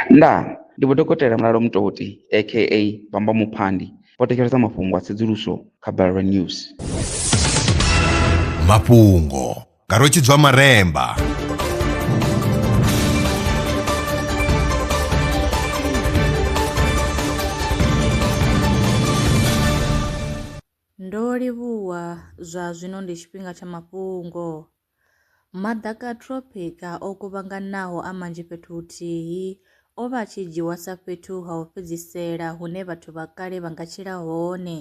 Ndaa! Ndi Vho Dokotela Mulalo Mutoti aka Bamba Muphandi vho thetshelesa mafhungo a tsedzuluso kha Balelwa News. Mafhungo nga Rwetshidzwa Maremba. Ndo livhuwa, zwa zwino ndi tshifhinga tsha mafhungo. Maḓaka a thropika o kuvhanganaho a manzhi fhethu huthihi o vha a tshi dzhiiwa sa fhethu ha u fhedzisela hune vhathu vha kale vha nga tshila hone.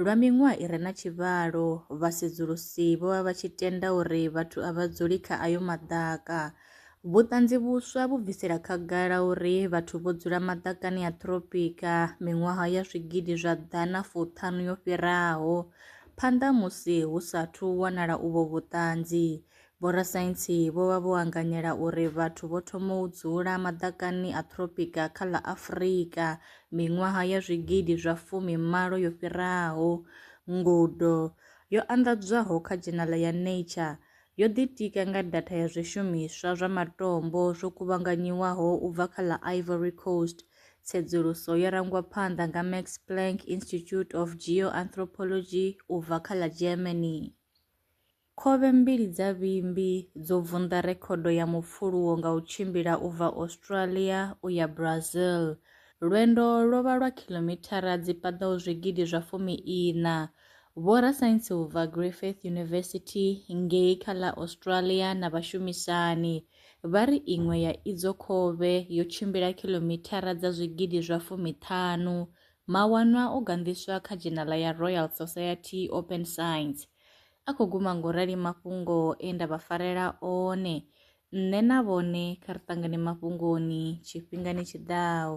Lwa miṅwaha i re na tshivhalo, vhasedzulusi vho vha vha tshi tenda uri vhathu a vha dzuli kha ayo maḓaka. Vhuṱanzi vhuswa vhu bvisela khagala uri vhathu vho dzula maḓakani a thropika miṅwaha ya zwigidi zwa ḓana fuṱhanu yo fhiraho. Phanḓa musi hu sa athu wanala uvho vhuṱanzi, vhorasaintsi vho vha vho anganyela uri vhathu vho thoma u dzula maḓakani a thropika kha ḽa Afrika miṅwaha ya zwigidi zwa fumi malo yo fhiraho. Ngudo yo anḓadzwaho kha dzhenala ya Nature yo ḓitika nga datha ya zwishumiswa zwa matombo zwo kuvhanganyiwaho u bva kha ḽa Ivory Coast Tsedzuluso yo rangwa phanḓa nga Max Planck Institute of Geoanthropology u bva kha ḽa Germany. Khovhe mbili dza vhimbi dzo vunḓa rekhodo ya mupfuluwo nga u tshimbila u bva Australia u ya Brazil. Lwendo lwo vha lwa khilomithara dzi paḓaho zwigidi zwa fumi ina. Vhorasaintsi u bva Griffith University ngei kha ḽa Australia na vhashumisani Vha ri iṅwe ya idzo khovhe yo tshimbila khilomithara dza zwigidi zwa fumi-ṱhanu. Mawanwa o ganḓiswa kha dzhenala ya Royal Society Open Science. A khou guma nga u rali mafhungo e nda vha farela one. Nṋe na vhone kha ri ṱangane mafhungoni tshifhingani tshi ḓaho.